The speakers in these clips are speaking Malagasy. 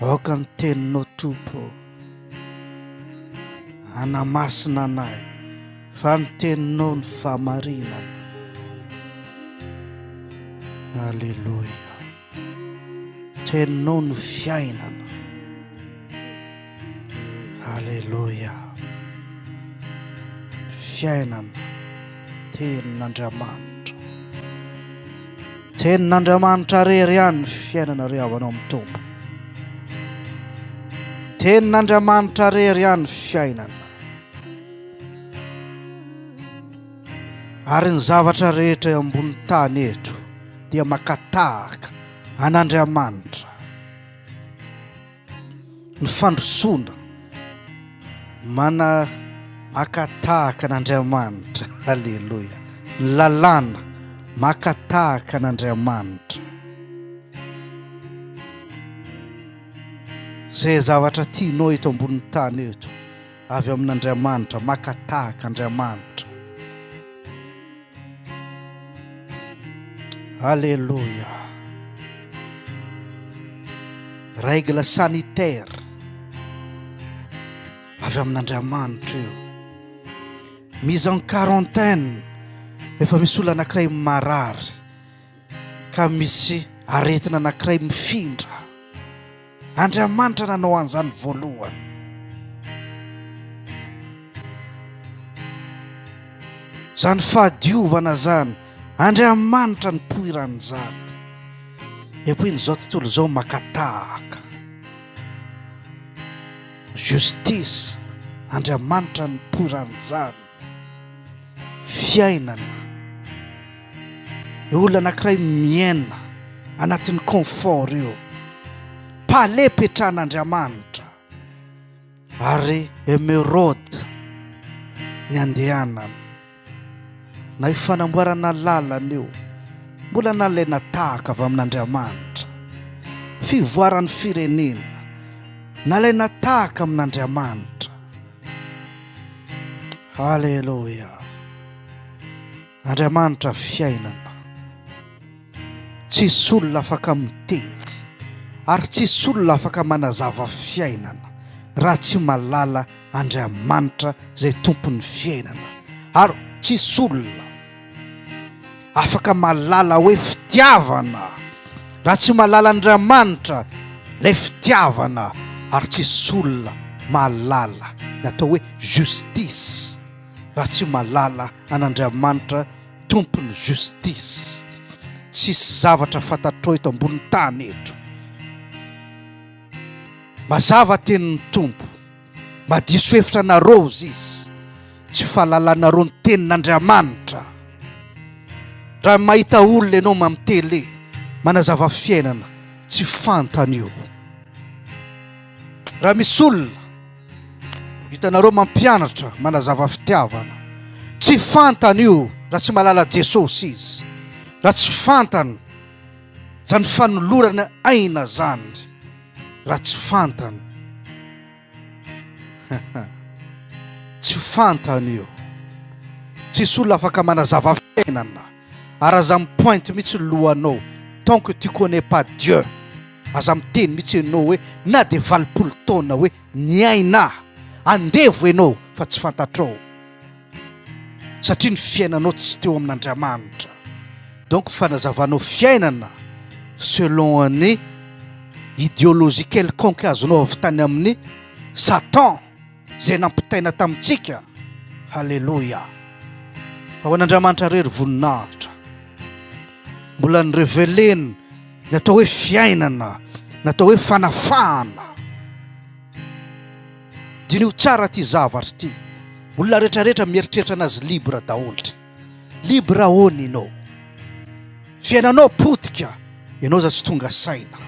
Aoka ny teninao Tompo hanamasina anay fa ny teninao ny famarinana. Alléluia. Teninao no fiainana. Aleloia! Fiainana, tenin'Andriamanitra. Tenin'Andriamanitra rery ihany ny fiainana ry havanao amin'ny tompo. Tenin'Andriamanitra rery ihany ny fiainana. Ary ny zavatra rehetra eo ambony tany eto dia makatahaka an'Andriamanitra. ny fandrosoana mana maka tahaka an'Andriamanitra aleloia ny lalàna maka tahaka an'Andriamanitra zay zavatra tianao eto ambonin'ny tany eto avy amin'Andriamanitra maka tahaka Andriamanitra Alléluia. Règle sanitaire avy amin'Andriamanitra io. Mise en quarantaine rehefa misy olona anankiray marary ka misy aretina anankiray mifindra. Andriamanitra nanao an'izany voalohany. Izany fahadiovana izany, Andriamanitra nipoiran'izany. Et puis izao tontolo izao makatahaka. Justice, Andriamanitra nipoiran'izany. fiainana ny olona anankiray miaina anatin'ny confort io pale petrahan'andriamanitra ary emerode ny andehanana na io fanamboarana lalana io mbola nalaina tahaka avy amin'andriamanitra fivoaran'ny firenena nalaina tahaka amin'andriamanitra Aleloia. Andriamanitra fiainana. Tsisy olona afaka miteny ary tsisy olona afaka manazava fiainana raha tsy malala Andriamanitra izay tompon'ny fiainana. Ary tsisy olona afaka malala hoe fitiavana raha tsy malala andriamanitra lay fitiavana ary tsy solona malala ny atao hoe justice raha tsy malala an'andriamanitra tompony justice tsisy zavatra fantatro eto ambony tany eto mazava tenin'ny tompo Mba diso hevitra anareo hozy izy. Tsy fahalalanareo ny tenin'Andriamanitra. Raha mahita olona ianao mamy tele manazava fiainana tsy fantany io. Raha misy olona hitanareo mampianatra manazava fitiavana tsy fantany io raha tsy malala Jesosy izy. Raha tsy fantany zany fanolorana aina zany. raha tsy fantany tsy fantany io tsisy olona afaka manazava fiainana ary aza mipointe mihitsy ny lohanao tant que tu connais pas Dieu aza miteny mihitsy ianao hoe na dia valopolo taona hoe ny aina andevo ianao fa tsy fantatrao satria ny fiainanao tsy teo amin'Andriamanitra donc fanazavanao fiainana selon an'ny ideologie quelconque azonao avy tany amin'ny satan zay nampitaina tamintsika halleloia fa ho an'Andriamanitra rery voninahitra mbola ny revelena ny atao hoe fiainana ny atao hoe fanafahana Diniho tsara ty zavatra ty, olona rehetra rehetra mieritreritra anazy libre daholo ty. Libre ahoana enao? Fiainanao potika, enao aza tsy tonga saina.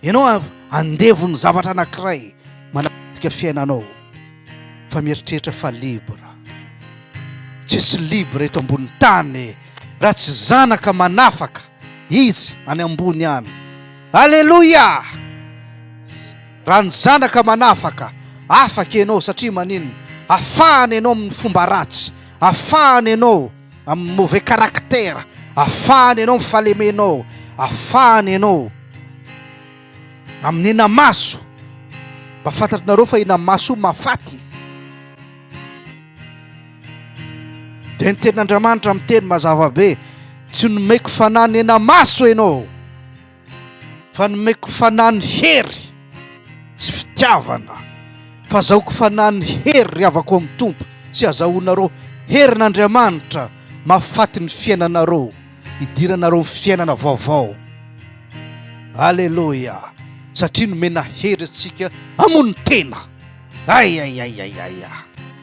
Enao andevo ny zavatra anakiray manapotika fiainanao fa mieritreritra fa libre. Tsisy libre eto ambony tany raha tsy zanaka manafaka. Izy any ambony any. Aleloia! Raha ny zanaka manafaka, afaka ianao satria maninona? Afahana ianao amin'ny fomba ratsy, afahana ianao amin'ny mauvais caractère, afahana ianao amin'ny fahalemenao, afahana ianao amin'ny inamaso. Mba fantatrareo fa inamaso mafaty. Dia ny tenin'Andriamanitra miteny mazava be, tsy nomeko fanahy nenamaso ianao, fa nomeko fanahy ny hery sy fitiavana, fa azahoako fanahy ny hery ry havako amin'ny Tompo, tsy azahoanareo herin'Andriamanitra mahafaty ny fiainanareo, hidiranareo ny fiainana vaovao. Aleloia! Satria nomena hery antsika hamono tena. Aiaiaiaiaia!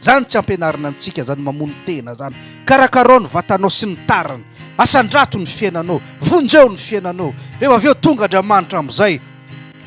Zany tsy ampianarina antsika zany mamono tena zany. Karakarao ny vatanao sy ny tariny. Asandrato ny fiainanao. Vonjeo ny fiainanao. Rehefa avy eo tonga Andriamanitra amin'izay.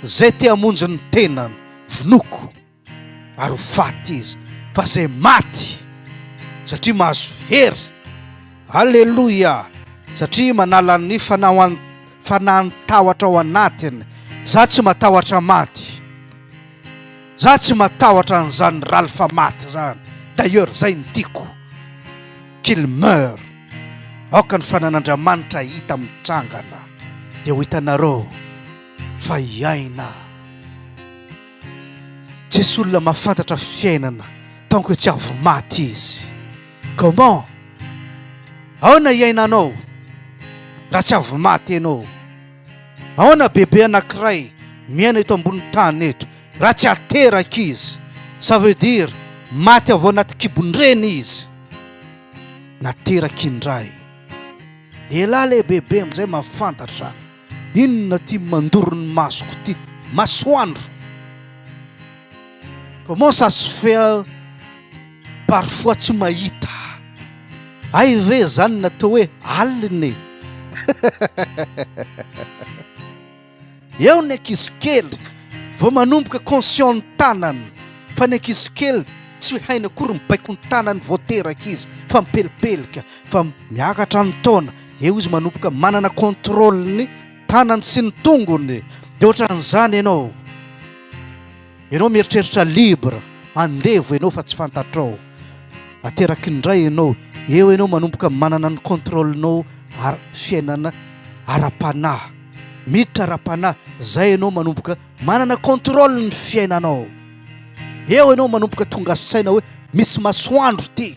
Zay te hamonjy ny tenany, vonoiko ary ho faty izy. Fa zay maty satria mahazo hery. Aleloia! Satria manala ny fanahan-tahotra ao anatiny. Za tsy matahotra maty. Za tsy matahotra an'izany Ralph maty zany d'ailleurs zay no tiako qu'il meure aoka ny fanan'Andriamanitra hita mitsangana dia ho hitanareo fa hiaina tsisy olona mahafantatra fiainana tant que tsy avy maty izy comment aona hiainanao raha tsy avy maty ianao Ahoana bebe anankiray miaina eto ambony tany eto raha tsy ateraka izy? Ça veut dire maty avy ao anaty kibon-dreny izy. Nateraka indray. Elah le bebe amin'izay mahafantatra inona ty mandoro ny masoko ty. Masoandro. Comment ça se fait? Parfois tsy mahita. Hay ve zany natao hoe alina e. Eo ny ankizy kely vao manomboka conscient ny tanany fa ny ankizy kely tsy hainy akory mibaiko ny tanany vao teraka izy fa mipelipelika fa miakatra ny taona eo izy manomboka manana contrôle ny tanany sy ny tongony de ohatran'izany ianao Ianao mieritreritra libre, andevo ianao fa tsy fantatrao. Ateraky ny Ray ianao, eo ianao manomboka manana ny contrôle-nao ar fiainana ara-panahy. Miditra ara-panahy, zay ianao manomboka manana contrôle ny fiainanao. Eo ianao manomboka tonga saina hoe misy masoandro ty.